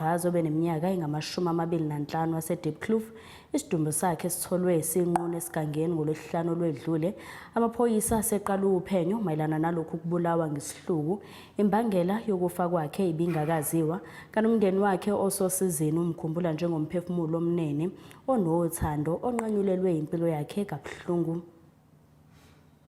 Braz obeneminyaka engamashumi amabili nanhlanu waseDiepkloof isidumbu sakhe sitholwe sinqunu esigangeni ngolwesihlanu olwedlule amaphoyisa aseqala uphenyo mayelana nalokhu kubulawa ngesihluku imbangela yokufa kwakhe ibingakaziwa kanti umndeni wakhe ososizini umkhumbula njengomphefumulo omnene onothando onqanyulelwe impilo yakhe kabuhlungu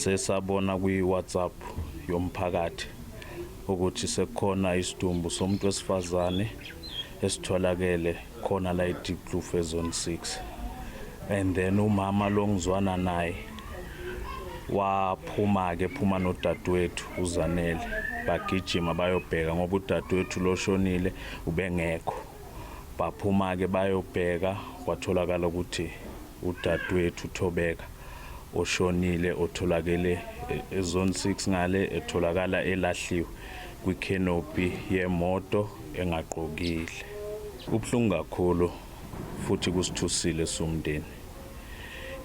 Sesabona kwi-WhatsApp yomphakathi ukuthi sekukhona isidumbu somuntu wesifazane esitholakele khona la eDeepkloof ezone 6 and then umama lo ngizwana naye waphuma-ke phuma nodadewethu uzanele bagijima bayobheka ngoba udadewethu loshonile ubengekho Baphuma-ke bayobheka kwatholakala ukuthi udadewethu Thobeka oshonile otholakele ezone 6 ngale etholakala elahliwe kwikhenopi yemoto engagqokile. Kubuhlungu kakhulu futhi kusithusile siwumndeni.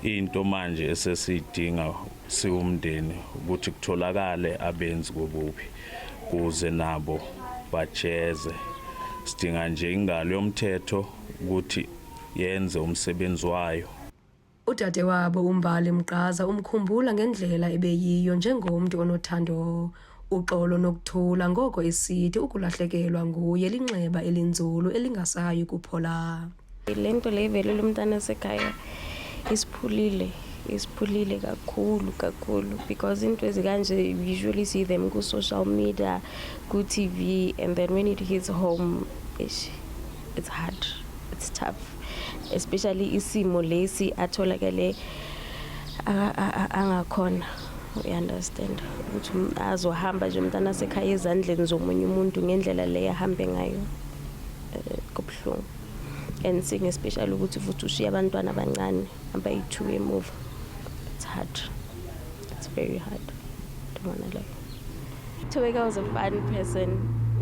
Into manje esesiyidinga siwumndeni ukuthi kutholakale abenzi kobubi kuze nabo bajeze sidinga nje ingalo yomthetho ukuthi yenze umsebenzi wayo Udadewabo uMbali Mgqaza umkhumbula ngendlela ebeyiyo njengomntu onothando. Uxolo nokuthula ngoko isithi ukulahlekelwa nguye linxeba elinzulu elingasayi kuphola. Le nto le ivelele umntana wasekhaya isiphulile isiphulile kakhulu kakhulu because into ezikanje you usually see them ku-social media ku-tv and then when it hits home ish, it's hard it's tough especially isimo lesi atholakele angakhona uyaunderstand ukuthi azohamba nje umntana asekhaya ezandleni zomunye umuntu ngendlela leyo ahambe ngayo eh, kubuhlungu and seeing especially ukuthi futhi ushiye abantwana abancane abayi-two emuva it's hard it's very hard ndibona leyo uthobeka was a fun person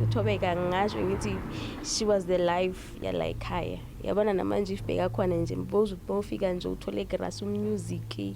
uthobeka ngasho ngithi she was the life yala ekhaya yabona namanje if bheka khona nje bofika nje uthole igrasi umusic